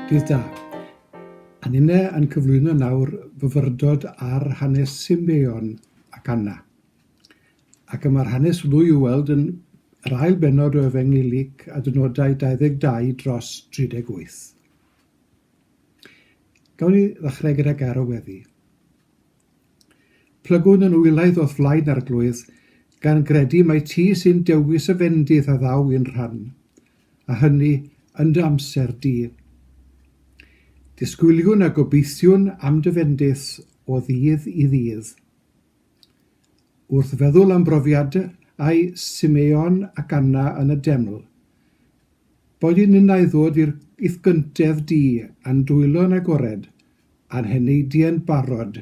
Dydd da. Anine yn cyflwyno nawr fyfyrdod ar hanes Simeon ac Anna. Ac y mae'r hanes hwnnw i'w weld yn yr ail bennod o Efengyl Luc, adnodau 22 dros 38. Gawn ni ddechrau gyda gair o weddi. Plygwn yn wylaidd o'th flaen arglwydd, gan gredu mai ti sy'n dewis y fendith a ddaw i'n rhan, a hynny yn dy amser di. Disgwyliwn a gobeithiwn am dy fendith o ddydd i ddydd. Wrth feddwl am brofiadau Simeon ac Anna yn y deml, boed i ninnau ddod i'th gyntedd di a'n dwylo'n agored, a'n heneidiau'n barod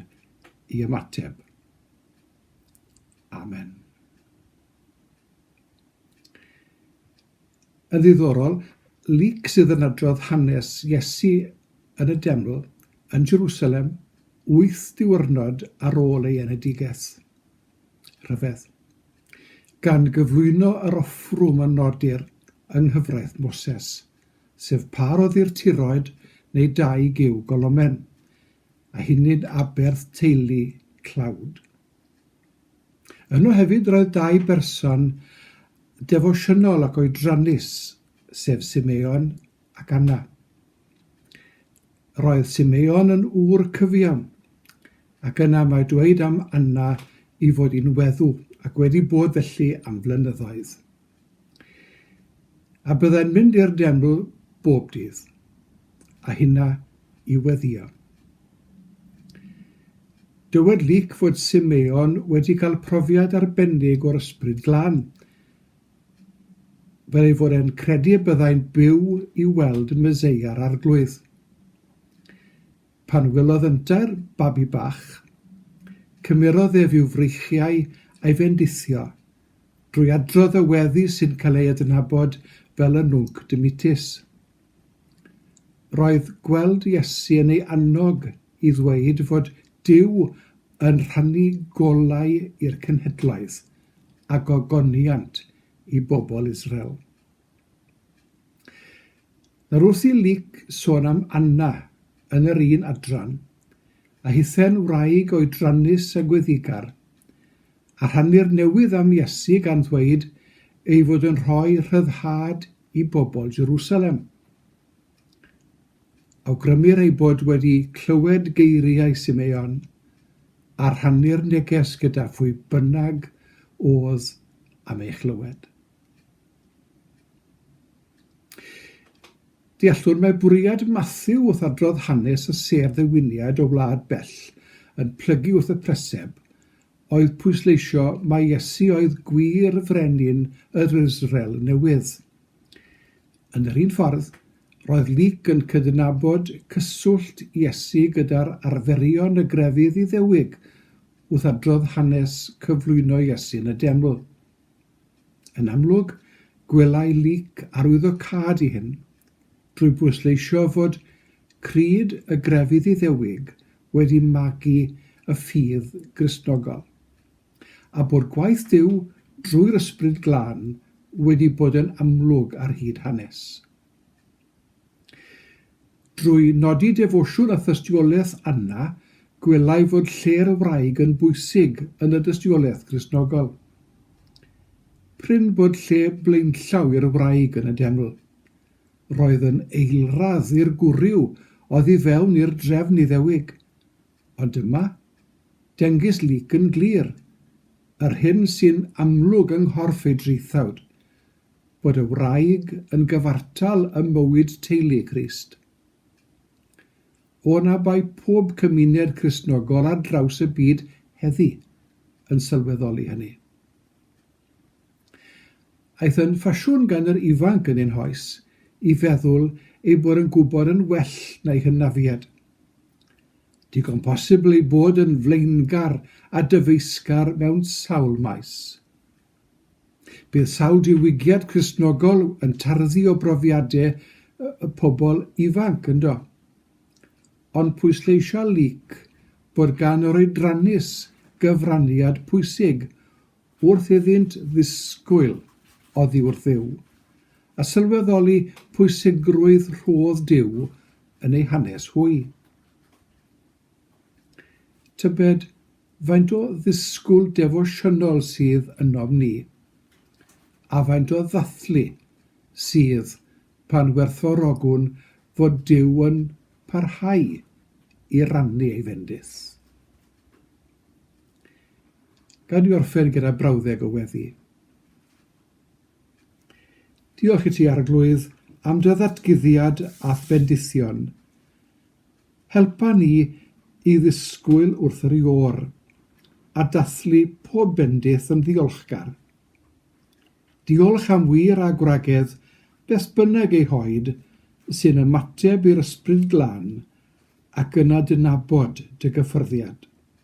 i ymateb. Amen. Yn ddiddorol, Luc sydd yn adrodd hanes Iesu yn y deml yn Jerusalem wyth diwrnod ar ôl ei enedigaeth. Rhyfedd. Gan gyflwyno yr offrwm a nodir yng nghyfraith Moses sef pa roddir tiroed neu daig i'w golomen, a hynny'n aberth teulu tlawd. Yno hefyd roedd dau berson defosiynol ac oedrannus, sef Simeon ac Anna. Roedd Simeon yn ŵr cyfiawn, ac yna mae dweud am Anna i fod i'n weddw ac wedi bod felly am flynyddoedd. A byddai'n mynd i'r deml bob dydd, a hynna i weddïo. Dywed Luc fod Simeon wedi cael profiad arbennig o'r Ysbryd Glân, fel ei fod e'n credu y byddai'n byw i weld Meseia'r Arglwydd. Pan welodd yntau'r babi bach, cymerodd ef i'w freichiau a'i fendithio, drwy adrodd y weddi sy'n cael ei adnabod fel y Nunc Dimittis. Roedd gweld Iesu yn ei annog i ddweud fod Duw yn rhannu golau i'r cenhedloedd a gogoniant i bobl Israel. Nawr wrth i Luc sôn am Anna yn yr un adran, a hithau'n wraig oedrannus a gweddigar, a rhannu'r newydd am Iesu gan ddweud ei fod yn rhoi rhyddhad i bobl Jerusalem. Awgrymir ei bod wedi clywed geiriau Simeon a rhannu'r neges gyda phwy bynnag oedd am ei chlywed. Deallwn mai bwriad Matthew wrth adrodd hanes y sêr ddewiniad o wlad bell yn plygu wrth y preseb oedd pwysleisio mai Iesu oedd gwir frenin yr Israel newydd. Yn yr un ffordd, roedd Luke yn cydnabod cyswllt Iesu gyda'r arferion y grefydd Iddewig wrth adrodd hanes cyflwyno Iesu yn y deml. Yn amlwg, gwelai Leek arwyddocâd i hyn, drwy bwysleisio fod creed y grefydd Iddewig wedi magu y ffydd Gristnogol, a bod gwaith Duw drwy'r Ysbryd Glân wedi bod yn amlwg ar hyd hanes. Drwy nodi defosiwn a thystiolaeth Anna, gwelai fod lle'r wraig yn bwysig yn y dystiolaeth Gristnogol. Prin bod lle blaenllaw i'r wraig yn y deml. Roedd yn eilradd i'r gwryw oddi fewn i'r drefn Iddewig. Ond yma, dengys Luc yn glir, yr hyn sy'n amlwg yng nghorff ei draethawd, bod y wraig yn gyfartal ym mywyd teulu Crist. O na bai pob cymuned Cristnogol ar draws y byd heddi yn sylweddoli hynny. Aeth yn ffasiwn gan yr ifanc yn ein hoes i feddwl ei bod yn gwybod yn well na'i hynafiad. Digon posibl ei bod yn flaengar a dyfeisgar mewn sawl maes. Bydd sawl diwygiad Cristnogol yn tarddu o brofiadau y pobl ifanc, yndo? Ond pwysleisia Luc bod gan yr oedrannus gyfraniad pwysig wrth iddynt ddisgwyl oddi wrth Dduw, a sylweddoli pwysigrwydd rhodd Duw yn eu hanes hwy. Tybed faint o ddisgwyl defosiynol sydd ynom ni, a faint o ddathlu sydd pan werthfawrogwn fod Duw yn parhau i rannu ei fendith? Gad i mi orffen gyda brawddeg o weddi. Diolch i ti, Arglwydd, am dy ddatguddiad a'th bendithion. Helpa ni i ddisgwyl wrth yr Iôr, a dathlu pob bendith yn ddiolchgar. Diolch am wir a gwragedd beth bynnag eu hoed sy'n ymateb i'r Ysbryd Glân ac yn adnabod dy gyffyrddiad.